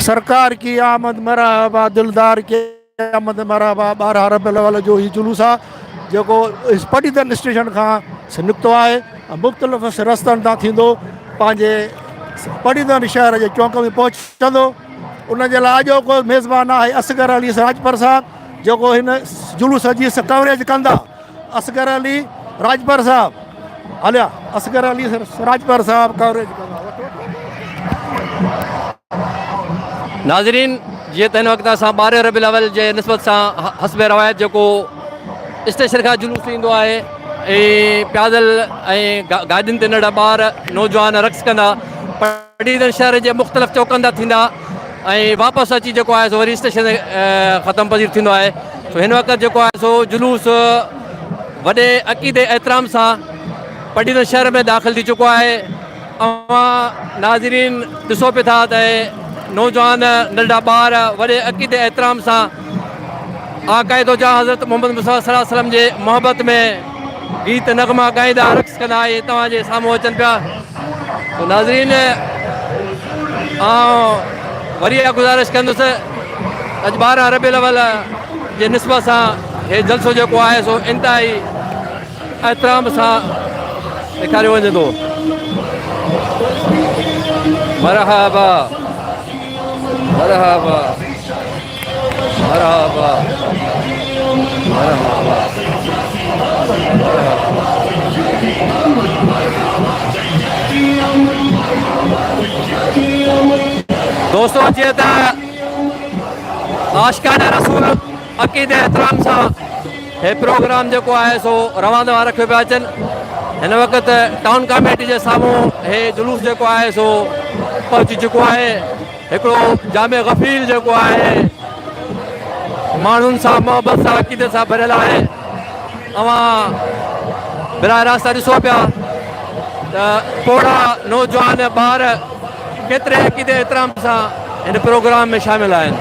سرڪار ڪي آمد مرحبا دلدار ڪي آمد مرحبا ٻارهن ربيع الاول جو هي جلوس آ جيڪو پٽيدن اسٽيشن کان نڪتو آهي مختلف رستن تان ٿيندو پنهنجي پٽيدن شهر جي چونڪ ۾ پهچندو ان جي لاء اڄو ڪو ميزبان آهي اصغر علي راجپر صاحب جيڪو هن جلوس جي سڪوريج ڪندا اصغر علي راڄپر صاحب هليا اصغر علي راڄپر صاحب ڪوريج ڪندا ناظرين جي تن وقت اسا 12 ربيع الاول جي نسبت سا حسب روایت جو کو اسٽيشن کا جلوس ايندو آهي اي پيادل اي گاڏين تي نڙا بار نوجوان رقص ڪندا ڊويزن شهر جي مختلف چوڪن تان ٿيندا ۽ واپس اچي جيڪو آهي سو وري اسٽيشن تي ختم پذير ٿيندو آهي سو هن وقت جيڪو آهي سو جلوس وڏي عقيدي احترام سان پڊيزن شهر ۾ داخل ٿي چڪو آهي اوهان ناظرين ڏسو پي ٿا ته نوجوان ننڍا ٻار وڏي عقيدي احترام سان آقائدو جا حضرت محمد مصطفيٰ صلي الله عليه وسلم جي محبت ۾ گيت نغما ڳائيندا رقص ڪندا اهي توهان جي سامهون اچن پيا تو ناظرين آئون وري اها گذارش ڪندس اڄ ٻارهن ربيع الاول جي نسبت سان هي جلسو جيڪو آهي سو انتهائي احترام سان ڏيکاريو وڃي ٿو مرحبا مرحبا دوستو جيئن ته عاشقان رسول عقيد احترام سان هي پروگرام جيڪو آهي سو روان دوان رکيو پيا اچن هن وقت ٽائون ڪاميٽي جي سامهون هي جلوس جيڪو آهي سو پهچي چڪو آهي هڪڙو جامع غفيل جيڪو آهي ماڻهن سان محبت سان عقيدي سان ڀريل آهي اوهان براهه راست ڏسو پيا ته پوڙا نوجوان ٻار ڪيتري عقيدي احترام سان هن پروگرام ۾ شامل آهن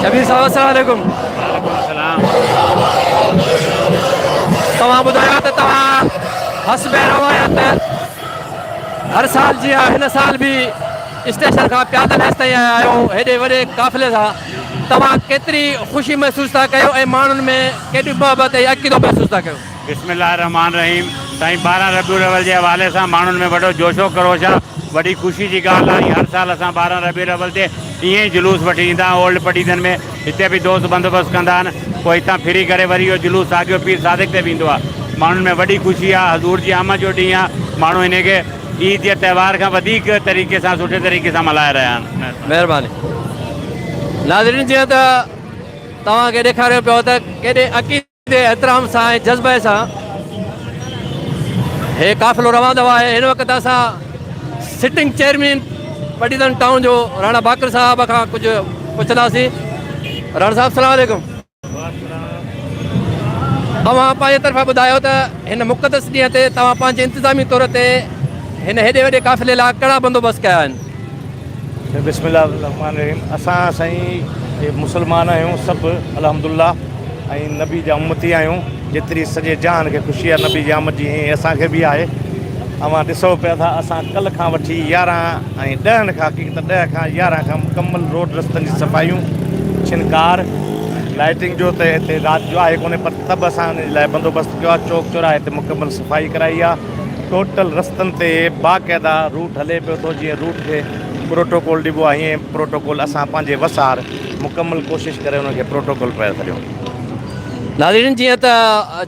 شبير صاحب السلام عليڪم. وعليڪم السلام. توهان ٻڌايو ته توهان حسب روايت هر سال جيان هن سال به اسٽيشن کان پيادل هيس تائين آيا آهيو هيڏي وڏي قافلي سان توهان ڪيتري خوشي محسوس ٿا ڪيو ۽ ماڻهن ۾ ڪيڏي محبت ۽ عقيدو محسوس ٿا ڪيو. بسم الله الرحمان الرحيم سائين ٻارهن ربيع الاول جي حوالي سان ماڻهن ۾ وڏو جوش و خروش آ وڏي خوشي جي ڳالهه آ ۽ هر سال اسان ٻارهن ربيع الاول تي ائين ئي جلوس وٺي ايندا آهيون اولڊ پٽيدن ۾ هتي به دوست بندوبست ڪندا آهن پوء هتان ڦري ڪري وري اهو جلوس ساڳيو پير صادق تي ويندو آ ماڻهن ۾ وڏي خوشي آ حضور جي آمد جو ڏينهن آ ماڻهو هن کي عيد جي تهوار کان وڌيڪ طريقي سان سٺي طريقي سان ملهائي رهيا آهن مهرباني ناظرين جيئن ته توهان کي ڏيکاريو پيو ته ڪيڏي عقيدت اتي احترام سان ۽ جذبي سان هي قافلو روان دوا آهي هن وقت اسان سٽنگ چيئرمين پٽيدن ٽائون جو راڻا باقر صاحب کان ڪجهه پڇنداسين راڻا صاحب سلام عليڪم اوهان پنهنجي طرفان ٻڌايو ته هن مقدس ڏينهن تي توهان پنهنجي انتظامي طور تي هن هيڏي وڏي قافلي لاء ڪهڙا بندوبست ڪيا آهن بسم الله الرحمٰن الرحيم اسان سائين جي مسلمان آهيون سڀ الحمد الله ۽ نبي جا امتي آهيون جيتري سڄي جهان کي خوشي آهي نبي جي آمد جي ائين اسان کي به آهي اوهان ڏسو پيا ٿا اسان ڪلهه کان وٺي يارهن ۽ ڏهن کان حقيقت ڏهه کان يارهن کان مڪمل روڊ رستن جي صفائيون ڇن ڪار لائٽنگ جو ته هتي رات جو آهي ڪونهي پر ته به اسان ان جي لاء بندوبست ڪيو آهي چوڪ چوراهي تي مڪمل صفائي ڪرائي آهي ٽوٽل رستن تي باقاعده روٽ هلي پيو ٿو جيئن روٽ کي پروٽوڪول ڏبو آهي ائين پروٽوڪول اسان پنهنجي وسار مڪمل ڪوشش ڪري ان کي پروٽوڪول پيو سڏيون. ناظرين جيئن ته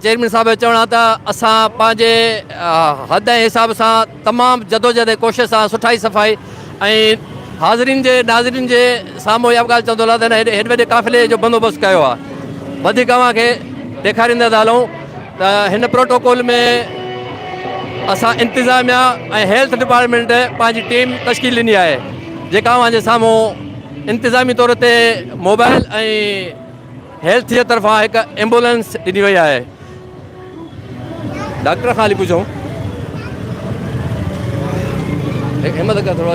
چيئرمين صاحب جو چوڻ آهي ته اسان پنهنجي حد ۽ حساب سان تمام جدوجهد ۽ ڪوشش سان سٺائي صفائي ۽ حاضرين جي ناظرين جي سامهون اها به ڳالهه چوندو هلان ته هن هيڏي وڏي قافلي جو بندوبست ڪيو آهي وڌيڪ اوهان کي ڏيکاريندا ٿا هلون ته هن پروٽوڪول ۾ اسان انتظاميا ۽ هيلٿ ڊپارٽمينٽ پنهنجي ٽيم تشڪيل ڏني آهي جيڪا اوهان جي سامهون انتظامي طور تي موبائل ۽ هيلٿ جي طرفان هڪ ايمبولنس ڏني وئي آهي ڊاڪٽر خالي پڇو همت ڪر ٿورو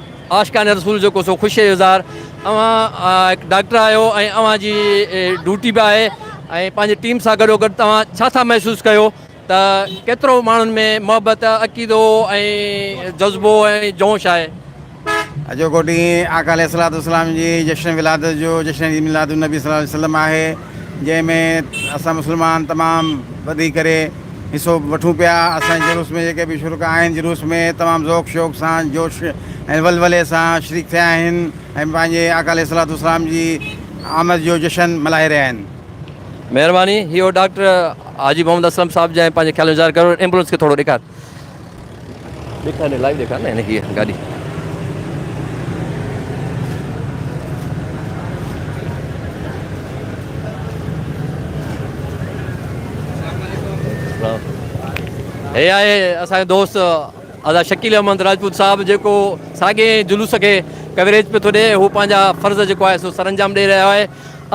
عاشقان رسول جيڪو سو خوشي جو اظهار اوهان هڪ ڊاڪٽر آهيو ۽ اوهان جي ڊوٽي به آهي ۽ پنهنجي ٽيم سان گڏو گڏ توهان ڇا ٿا محسوس ڪيو ته ڪيترو ماڻهن ۾ محبت عقيدو ۽ جذبو ۽ جوش آهي. اڄوڪو ڏينهن آقا عليه الصلوة والسلام جي جشن ولادت جو جشن عيد ميلاد النبي صلي الله عليه وسلم آهي جنهن ۾ اسان مسلمان تمام وڌي ڪري حصو وٺون پيا اسان جي جلوس ۾ جيڪي به شرڪاء آهن جلوس ۾ تمام ذوق شوق سان جوش ۽ ولولي سان شريڪ ٿيا آهن ۽ پنهنجي آقا عليه الصلوة والسلام جي آمد جو جشن ملهائي رهيا آهن. مهرباني هي هو ڊاڪٽر حاجي محمد اسلم صاحب جنهن پنهنجي خيال جو اظهار ڪيو ايمبولنس کي ٿورو ڏيکار. هي آهي اسان جو دوست آزاد شڪيل احمد راجپوت صاحب جيڪو ساڳئي جلوس کي ڪوريج پيو ٿو ڏي هو پنهنجا فرض جيڪو آهي سو سر انجام ڏئي رهيو آهي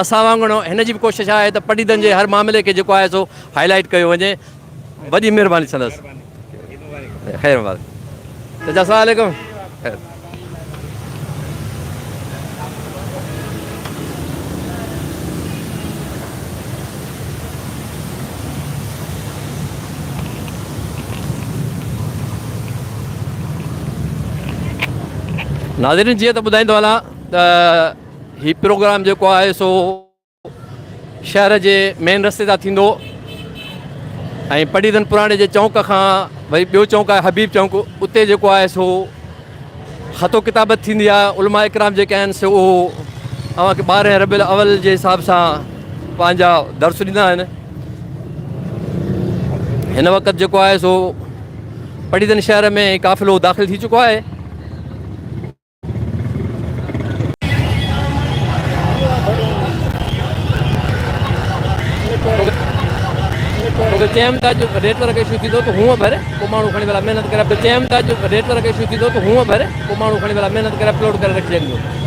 اسان وانگر هن جي به ڪوشش آهي ته پٽيدڙن جي هر معاملي کي جيڪو آهي سو هائلائٽ ڪيو وڃي وڏي مھرباني سندس خير مبارڪ چچا السلام عليڪم خير ناظرين جيئن ته ٻڌائيندو هلان ته هي پروگرام جيڪو آهي سو شهر جي مين رستي تان ٿيندو ۽ پڙيدن پراڻي جي چونڪ کان وري ٻيو چونڪ آهي حبيب چونڪ اتي جيڪو آهي سو خط و ڪتابت ٿيندي آهي علماء اڪرام جيڪي آهن سو اهو اوهان کي ٻارهن ربيع الاول جي حساب سان پنهنجا درس ڏيندا آهن هن وقت جيڪو آهي سو پڙيدن شهر ۾ قافلو داخل ٿي چڪو آهي چيم ته جو ريٽ ورڪ ايشو ٿيندو ته هونء ڀر پوء ماڻهو کڻي ويلا محنت ڪري چيم ته جو ريٽ ورڪ ايشو ٿيندو ته هونء ڀر پوء ماڻهو کڻي ويلا محنت ڪري اپلوڊ ڪري رکجي ڏيندو